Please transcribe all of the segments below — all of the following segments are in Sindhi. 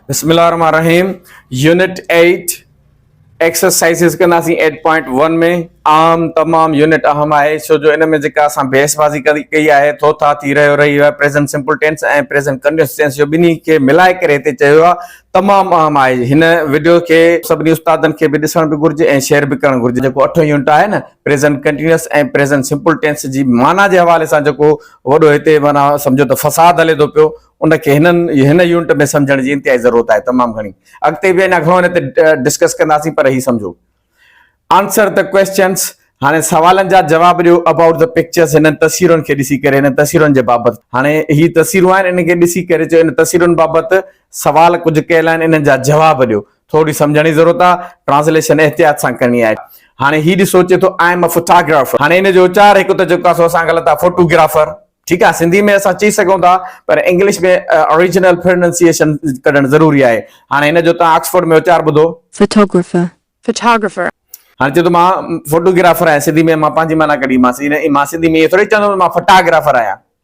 بسم الله الرحمن الرحيم يونٽ 8 ايڪسرسائزز ڪنداسين 8.1 ۾ عام تمام يونٽ اهم آهي ڇو جو ان ۾ جيڪا اسان بحث بازي ڪئي آهي ٿو ٿا ٿي رهيو رهي آهي present simple tense ۽ present continuous tense جو ٻنهي کي ملائي ڪري هتي چيو آهي تمام اهم آهي هن وڊيو کي سڀني استادن کي به ڏسڻ به گهرجي ۽ شيئر به ڪرڻ گهرجي جيڪو اٺون يونٽ آهي نه present continuous ۽ present simple tense جي معنيٰ جي حوالي سان جيڪو وڏو هتي معنيٰ سمجهو ته فساد هلي ٿو پيو، ان کي هن هن يونٽ ۾ سمجهڻ جي انتهائي ضرورت آهي تمام گهڻي. اڳتي به اڃا گهڻو هن تي ڊسڪس ڪنداسين پر هي سمجهو. Answer the questions هاڻي سوالن جا جواب ڏيو About the pictures هنن تصويرن کي ڏسي ڪري هنن تصويرن جي بابت هاڻي هي تصويرون آهن انهن کي ڏسي ڪري چئو هن تصويرن بابت سوال ڪجهه ڪيل آهن انهن جا جواب ڏيو ٿوري سمجهڻ جي ضرورت آ. ٽرانسليشن احتياط سان ڪرڻي آهي. هاڻي هي ڏسو چي ٿو آئي ايم ا فوٽاگرافر. هاڻي ان جو اچار هڪ ته چئون ٿا سو اسان غلط آ فوٽو گرافر ٺيڪ آ سنڌي ۾ اسان چئي سگهون ٿا پر انگلش ۾ آريجنل پرننسيئيشن ڪڍڻ ضروري آهي. هاڻي هن جو تان آڪسفورڊ ۾ اچار ٻڌو. Photographer Photographer. هاڻي چئي ٿو مان فوٽو گرافر آهيان سنڌي ۾ مان پنهنجي معنيٰ ڪڍي مانس مان سنڌي ۾ ائين ٿوري چوندم ته مان فٽاگرافر آهيان.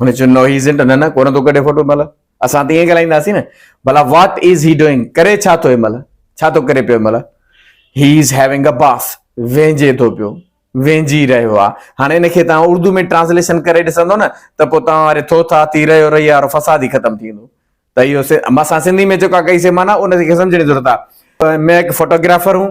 هن چيو نو هي ازنٽ نه نه ڪونه ٿو ڪڍي فوٽو مل اسان ته ائين ڳالهائينداسين نه ڀلا واٽ از هي ڊوئنگ ڪري ڇا ٿو هي مل ڇا ٿو ڪري پيو مل هي از هيونگ ا باس وينجي ٿو پيو وينجي رهيو آ هاڻي ان کي تان اردو ۾ ٽرانسليشن ڪري ڏسندو نه ته پو تان واري ٿو ٿا ٿي رهيو رهي وارو فساد ئي ختم ٿيندو ته اهو اسان سنڌي ۾ جيڪا ڪئي سي معنيٰ ان کي سمجھڻ جي ضرورت آ مين هڪ فوٽوگرافر هون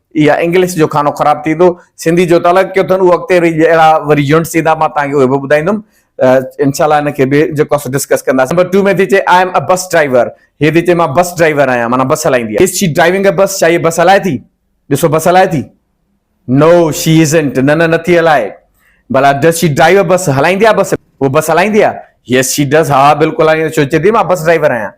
يا انگلش جو کانو خراب ٿيندو سنڌي جو تعلق ڪيو اٿن اهو اڳتي ري اهڙا وري يونٽس ايندا مان توهان کي اهي به ٻڌائيندم انشاء الله ان کي به جيڪو اسان ڊسڪس ڪنداسين نمبر ٽو ۾ ٿي چئي I am a bus driver هي ٿي چئي مان بس ڊرائيور آهيان معنيٰ بس هلائيندي آهي از شي ڊرائيونگ ا بس ڇا هي بس هلائي ٿي ڏسو بس هلائي ٿي نو شي ازنٽ نه نه نٿي هلائي بلا does she drive a bus هلائيندي آهي بس هو بس هلائيندي آهي يس شي ڊز ها بلڪل هلائيندي ڇو چئي ٿي مان بس ڊرائيور آهيان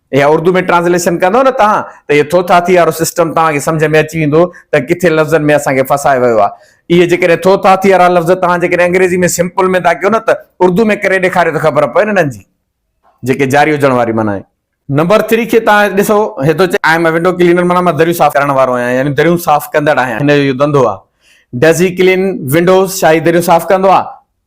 اها اردو ۾ ٽرانسليشن ڪندو نه توهان ته اهي ٿوٿا ٿي وارو سسٽم توهان کي سمجهه ۾ اچي ويندو ته ڪٿي لفظن ۾ اسان کي ڦاسائي ويو آهي. اهي جيڪڏهن ٿوٿا ٿي وارا لفظ توهان جيڪڏهن انگريزي ۾ سمپل ۾ ٿا ڪيو نه ته اردو ۾ ڪري ڏيکاريو ته خبر پوي نه انهن جي جيڪي جاري هجڻ واري معنيٰ آهي. نمبر ٿري کي توهان ڏسو هي ٿو چئي I am a window cleaner معنيٰ مان دريون صاف ڪرڻ وارو آهيان يعني دريون صاف ڪندڙ آهيان هن جو اهو ڌنڌو آهي. ڊز هي ڪلين ونڊوز ڇا هي دريون صاف ڪندو آهي؟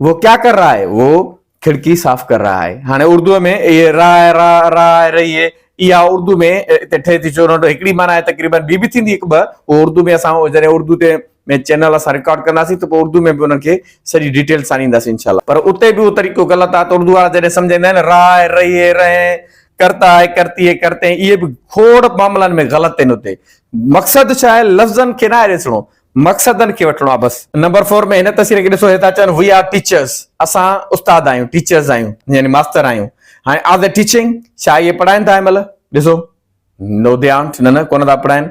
وو ڪيا ڪر رھا ھي؟ وو کڙڪي صاف ڪر رھا ھي. ھاڻي اردوء ۾ اھي رھا ھي، رھا، رھا ھي، رھي ھي، اھا اردو ۾ اتي ٺھي ٿي چورنٽ ھڪڙي معنيٰ ھي تقريبن ٻي به ٿيندي ھڪ ٻه اھو اردو ۾ اسان جڏھن اردو تي ۾ چينل اسان رڪارڊ ڪنداسين ته پوء اردو ۾ به انھن کي سڄي ڊيٽيلز سان ڏينداسين انشاء الله. پر اتي به اھو طريقو غلط آھي ته اردو وارا جڏھن سمجھائيندا آھن نه رھا ھي، رھي ھي، رھي ھي، ڪرتا ھي، ڪرتي ھي، ڪرتي ھي اھي به کوڙ معاملن ۾ غلط آھن اتي مقصد ڇا ھي لفظن کي ناھي ڏسڻو مقصدن کي وٺڻو آهي بس. نمبر فور ۾ هن تصوير کي ڏسو هتان چون وي آر ٽيچرس اسان استاد آهيون ٽيچرس آهيون يعني ماستر آهيون هاڻي آر دي ٽيچنگ ڇا اهي پڙهائين ٿا هن مهل ڏسو نو دي آنٽ نه نه ڪونه ٿا پڙهائين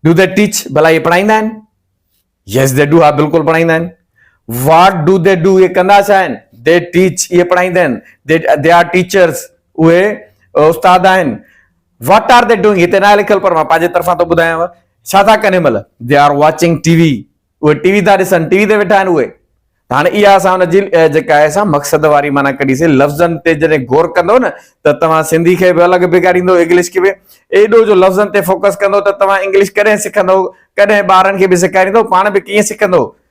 ڊو دي ٽيچ ڀلا اهي پڙهائيندا آهن يس دي ڊو ها بلڪل پڙهائيندا آهن واٽ ڊو دي ڊو اهي ڪندا ڇا آهن دي ٽيچ اهي پڙهائيندا آهن دي آر ٽيچرس اهي استاد آهن What are they doing هتي ناهي لکيل پر مان پنهنجي طرفان ٿو ٻڌايانو ڇا ٿا ڪن هن مهل They are watching TV اهي ٽي وي ٿا ڏسن ٽي وي تي ويٺا آهن اهي هاڻي اها اسان ان جي جيڪا آهي سا مقصد واري معنيٰ ڪڍيسي لفظن تي جڏهن غور ڪندو نه ته توهان سنڌي کي به الڳ بگاڙيندو انگلش کي به ايڏو جو لفظن تي فوڪس ڪندو ته توهان انگلش ڪڏهن سکندو ڪڏهن ٻارن کي به سيکاريندو پاڻ به ڪيئن سکندو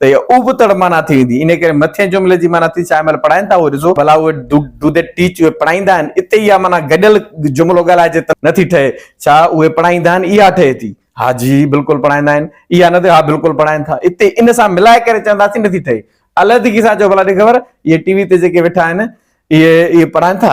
ته اها اوبتڙ معنيٰ ٿي ويندي. انهيء ڪري مٿئين جملي جي معنيٰ ٿي ڇاهي مهل پڙهائين ٿا اهو ڏسو، ڀلا اهي، Do they teach، اهي پڙهائيندا آهن؟ اتي اها معنيٰ گڏيل جملو ڳالهائجي ته نه ٿي ٺهي. ڇا اهي پڙهائيندا آهن؟ اها ٺهي ٿي. ها جي، بلڪل پڙهائيندا آهن. اها نه ٿئي، ها بلڪل پڙهائين ٿا. اتي ان سان ملائي ڪري چونداسين نه ٿي ٺهي. علحدگيء سان چئو ڀلا ڏي خبر، اهي ٽي وي تي جيڪي ويٺا آهن، اهي، اهي پڙهائين ٿا؟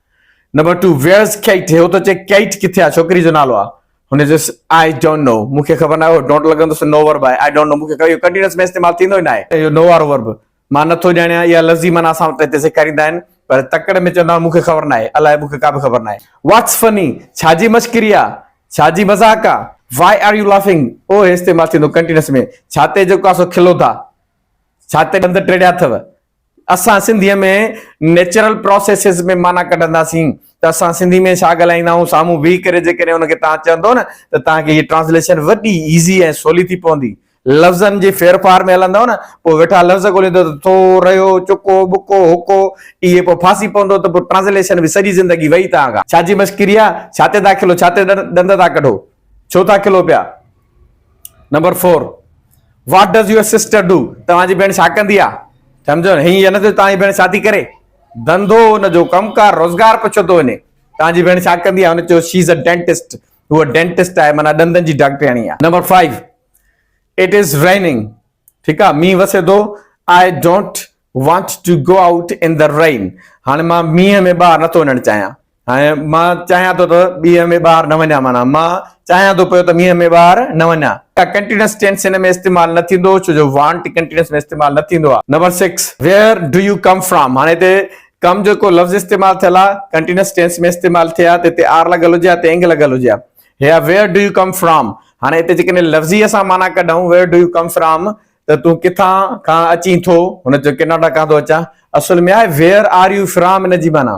نمبر ٽو ويئرز ڪيٽ هي هو ٿو چئي ڪيٽ ڪٿي آهي ڇوڪري جو نالو آهي هن چيس آئي ڊونٽ نو مون کي خبر ناهي اهو ڊونٽ لڳندو سو نو ورب آهي آئي ڊونٽ نو مون کي خبر اهو ڪنٽينيوس ۾ استعمال ٿيندو ئي ناهي اهو نو وارو ورب مان نٿو ڄاڻيان اها لفظ ئي معنيٰ اسان وٽ هتي سيکاريندا آهن پر تڪڙ ۾ چوندا آهن مون کي خبر ناهي الاء مون کي ڪا به خبر ناهي واٽس فني ڇا جي مشڪري آهي ڇا جي مذاق آهي وائي آر يو لافنگ اهو هي استعمال ٿيندو ڪنٽينيوس ۾ ڇا تي جهڪو آهي سو کلو ٿا ڇا تي ڏند ٽيڙيا اٿو اسان سنڌيء ۾ نيچرل پراسيسز ۾ معنيٰ ڪڍنداسين ته اسان سنڌي ۾ ڇا ڳالهائيندا آهيون، سامهون بيهي ڪري جيڪڏهن ان کي توهان چوندو نه ته توهان کي هيء ٽرانسليشن وڏي ايزي ۽ سولي ٿي پوندي. لفظن جي ڦير ڦار ۾ هلندؤ نه، پوء ويٺا لفظ ڳوليندو ته ٿو، رهيو، چڪو، ٻڪو، هڪو، اهي پوء ڦاسي پوندو ته پوء ٽرانسليشن به سڄي زندگي وئي ته آگا. ڇا جي مشڪري آ، ڇا تي داخلو، ڇا تي ڏند ٿا ڪڍو. ڇو ٿا کلو پيا؟ Number four what does your sister do توهان جي ڀيڻ ڇا ڪندي آ سمجھو هي يا نه توهان جي ڀيڻ ڇا ٿي ڪري ڌنڌو ان جو ڪم ڪار روزگار پڇو ٿو وڃي توهان جي ڀيڻ ڇا ڪندي آ هن چيو شي از ا ڊينٽسٽ هو ڊينٽسٽ آهي مانا ڏندن جي ڊاڪٽرياڻي آ نمبر 5 اٽ از ريننگ ٺيڪ آ مينهن وسي ٿو I don't want to go out in the rain هاڻي مان مينهن ۾ ٻاهر نٿو وڃڻ چاهيان هاڻي مان چاهيان ٿو ته ٻيهه ۾ ٻاهر نه وڃان معنيٰ مان چاهيان ٿو پيو ته مينهن ۾ ٻاهر نه وڃان. ڪا ڪنٽينيوس ٽينس هن ۾ استعمال نه ٿيندو ڇو جو وانٽ ڪنٽينيوس ۾ استعمال نه ٿيندو آهي. Number six, where do you come from, هاڻي هتي ڪم جيڪو لفظ استعمال ٿيل آهي ڪنٽينيوس ٽينس ۾ استعمال ٿئي ها ته هتي آر لڳل هجي ها ته انگ لڳل هجي ها هي آهي where do you come from هاڻي هتي جيڪڏهن لفظي اسان معنيٰ ڪڍون where do you come from ته تون ڪٿان کان اچين ٿو هن چيو ڪيناڊا کان ٿو اچان اصل ۾ آهي ويئر آر يو فرام ان جي معنيٰ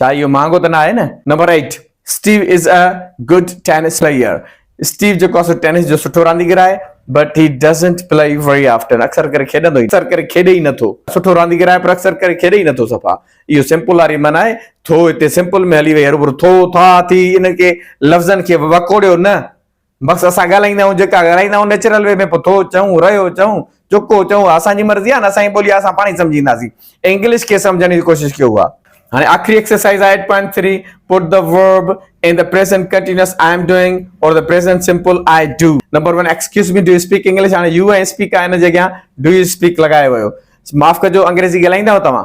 ڇا اهو مهانگو ته نه آهي نه؟ Number eight Steve is a good tennis player Steve جيڪو آهي سو ٽينس جو سٺو رانديگر آهي but he doesn't play very often اڪثر ڪري کيڏندو ئي اڪثر ڪري کيڏي ئي نه ٿو سٺو رانديگر آهي پر اڪثر ڪري کيڏي ئي نه ٿو صفا اهو سمپل واري من آهي ٿو هتي سمپل ۾ هلي وئي هروڀرو ٿو ٿا ٿي انهن کي لفظن کي وڪوڙيو نه بس اسان ڳالهائيندا آهيون جيڪا ڳالهائيندا آهيون نيچرل وي ۾ پوء ٿو چئون رهيو چئون جيڪو چئون اها اسان جي مرضي آهي نه اسان جي ٻولي آهي اسان پاڻ ئي سمجهينداسين ۽ انگلش کي سمجهڻ جي ڪوشش ڪيو اها هاڻي آخري ايڪسرسائيز آهي eight point three put the verb in the present continuous I am doing or the present simple I do number one excuse me do you speak English هاڻي يو ۽ اسپيڪ آهي ان جي اڳيان ڊو يو اسپيڪ لڳايو ويو معاف ڪجو انگريزي ڳالهائيندا آهيو توهان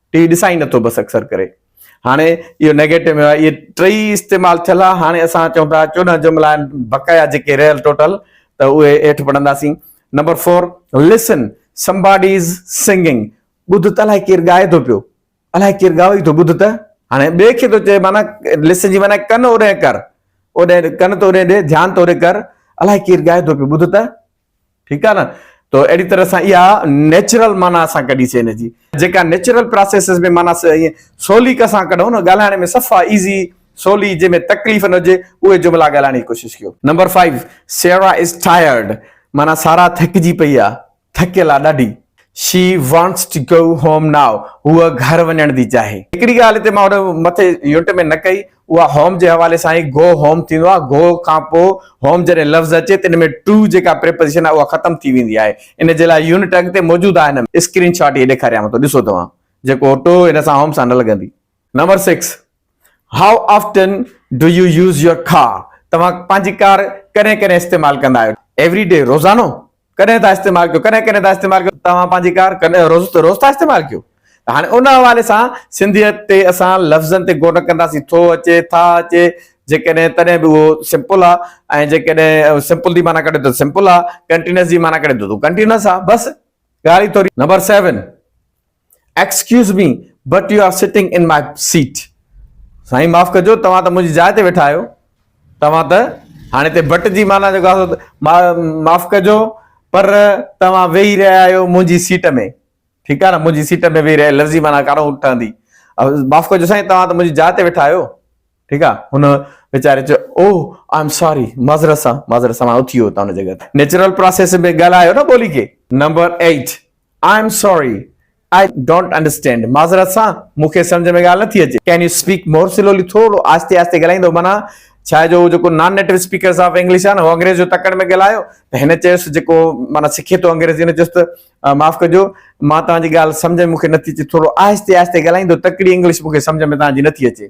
ٽي وي ڏسان ئي نٿو بس اڪثر ڪري هاڻي اهو نيگيٽو ۾ اهي ٽئي استعمال ٿيل آهي هاڻي اسان چون ٿا چوڏهن جملا آهن بقايا جيڪي رهيل ٽوٽل ته اهي هيٺ پڙهنداسين number four listen somebody is singing ٻڌ ته الاهي ڪير ڳائي ٿو پيو الاهي ڪير ڳائو ئي ٿو ٻڌ ته هاڻي ٻئي کي ٿو چئي معنی لسن جي معنی ڪن اوري ڪر اوري ڪن ته اوري ڏي ڌيان ته اوري ڪر الاهي ڪير ڳائي ٿو پيو ٻڌ ته ٺيڪ آ نه تو اهڙي طرح سان اها نيچرل معنيٰ اسان ڪڍي سي ان جي جيڪا نيچرل پراسيسز ۾ معنيٰ ائين سولي ڪا سان ڪڍون نه ڳالهائڻ ۾ صفا ايزي سولي جنهن ۾ تڪليف نه هجي اهي جملا ڳالهائڻ جي ڪوشش ڪيو. نمبر فائيو سيرا از ٽائرڊ معنيٰ سارا ٿڪجي پئي آ ٿڪيل آ ڏاڍي. شي وانٽس ٽو گو هوم نائو هوء گهر وڃڻ ٿي چاهي. هڪڙي ڳالهه هتي مان هن مٿي يونٽ ۾ نه ڪئي. اها هوم جي حوالي سان ئي گو هوم ٿيندو آهي. گو کانپوء هوم جڏهن لفظ اچي ته ان ۾ ٽو جيڪا پريپوزيشن آهي اها ختم ٿي ويندي آهي. ان جي لاء يونٽ اڳتي موجود آهي. اسڪرين شاٽ هي ڏيکاريانو ٿو ڏسو توهان جيڪو ٽو ان سان هوم سان نه لڳندي. Number six how often do you use your car توهان پنهنجي ڪار ڪڏهن ڪڏهن استعمال ڪندا آهيو. ايوري ڊي روزانو ڪڏهن ٿا استعمال ڪيو ڪڏهن ڪڏهن ٿا استعمال ڪيو توهان پنهنجي ڪار ڪڏهن روز ته روز ٿا استعمال ڪيو هاڻي ان حوالي سان سنڌيت تي اسان لفظن تي غور نه ڪنداسين ٿو اچي ٿا اچي جيڪڏهن تڏهن به اهو سمپل آ ۽ جيڪڏهن سمپل دي معنی ڪڍي ته سمپل آ ڪنٽينس جي معنی ڪڍي ته ڪنٽينس آ بس ڳالهه ئي ٿوري number 7 excuse me but you are sitting in my seat سائين معاف ڪجو توهان ته منهنجي جاء تي ويٺا آهيو توهان ته هاڻي هتي بٽ جي معنيٰ جيڪو آهي معاف ڪجو پر توهان ويهي رهيا آهيو منهنجي سيٽ ۾ ٺيڪ آهي نه منهنجي سيٽ ۾ ويهي رهيا لفظي معنيٰ ڪارو ٺهندي معاف ڪجو سائين توهان ته منهنجي جاء تي ويٺا آهيو ٺيڪ آ هن ويچاري چيو اوه آء ايم ساري معذرت سان معذرت سان ماڻهو اٿي ويو اتان هن جي گهر نيچرل پراسيس ۾ ڳالهايو نه ٻولي کي number eight I am sorry I don't understand معذرت سان مون کي سمجهه ۾ ڳالهه نٿي اچي can you speak more slowly ٿورو آهستي آهستي ڳالهائيندو معنيٰ ڇا آهي جو هو جيڪو non native speakers of English آهي نه هو انگريز جو تڪڙ ۾ ڳالهايو ته هن چيس جيڪو معنيٰ سکي ٿو انگريزي هن چيس ته معاف ڪجو مان توهان جي ڳالهه سمجهه ۾ مون کي نٿي اچي ٿورو آهستي آهستي ڳالهائيندو تڪڙي انگلش مون کي سمجهه ۾ توهان جي نٿي اچي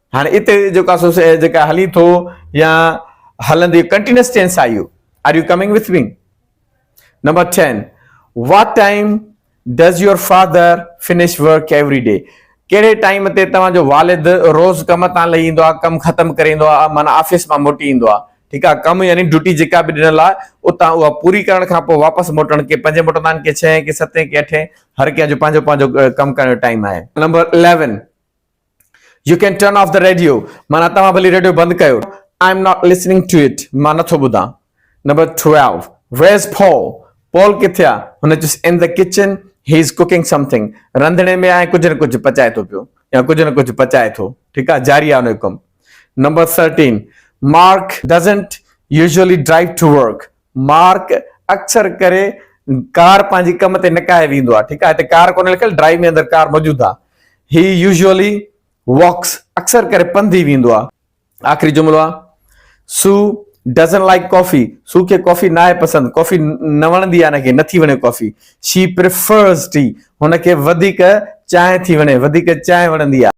هاڻي اتي جيڪو سو جيڪا هلي ٿو يا هلندي ڪنٽينيوس ٽينس آهي اهو are you coming with me number ten what time does your father finish work every day ڪهڙي ٽائيم تي توهان جو والد روز ڪم تان لهي ايندو آهي ڪم ختم ڪري ايندو آهي معنيٰ آفيس مان موٽي ايندو آهي ٺيڪ آهي ڪم يعني ڊيوٽي جيڪا به ڏنل آهي اتان اها پوري ڪرڻ کان پوء واپس موٽڻ ڪي پنجين موٽندا آهن ڪي ڇهين ڪي ستين ڪي اٺين هر ڪنهن جو پنهنجو پنهنجو ڪم ڪرڻ جو ٽائيم آهي number eleven you can turn off the radio معنيٰ توهان ڀلي ريڊيو بند ڪيو I am not listening to it مان نٿو ٻڌان number twelve where's Paul Paul ڪٿي آ هن he's in the kitchen he is cooking something رنڌڻي ۾ آهي ڪجهه نه ڪجهه پچائي ٿو پيو يا ڪجهه نه ڪجهه پچائي ٿو ٺيڪ آ جاري آ انهو ڪم number thirteen Mark doesn't usually drive to work Mark, اڪثر ڪري ڪار پنهنجي ڪم تي نڪاهي ويندو آهي، ٺيڪ آهي هتي ڪار ڪونهي لکيل ڊرائيو ۾ اندر ڪار موجود آهي He usually walks اڪثر ڪري پنڌي ويندو آهي آخري جملو آهي Sue doesn't like coffee سو کي ڪافي ناهي پسند ڪافي نه وڻندي آهي هن کي نٿي وڻي ڪافي She prefers tea هن کي وڌيڪ چانهه ٿي وڻي وڌيڪ چانهه وڻندي آهي.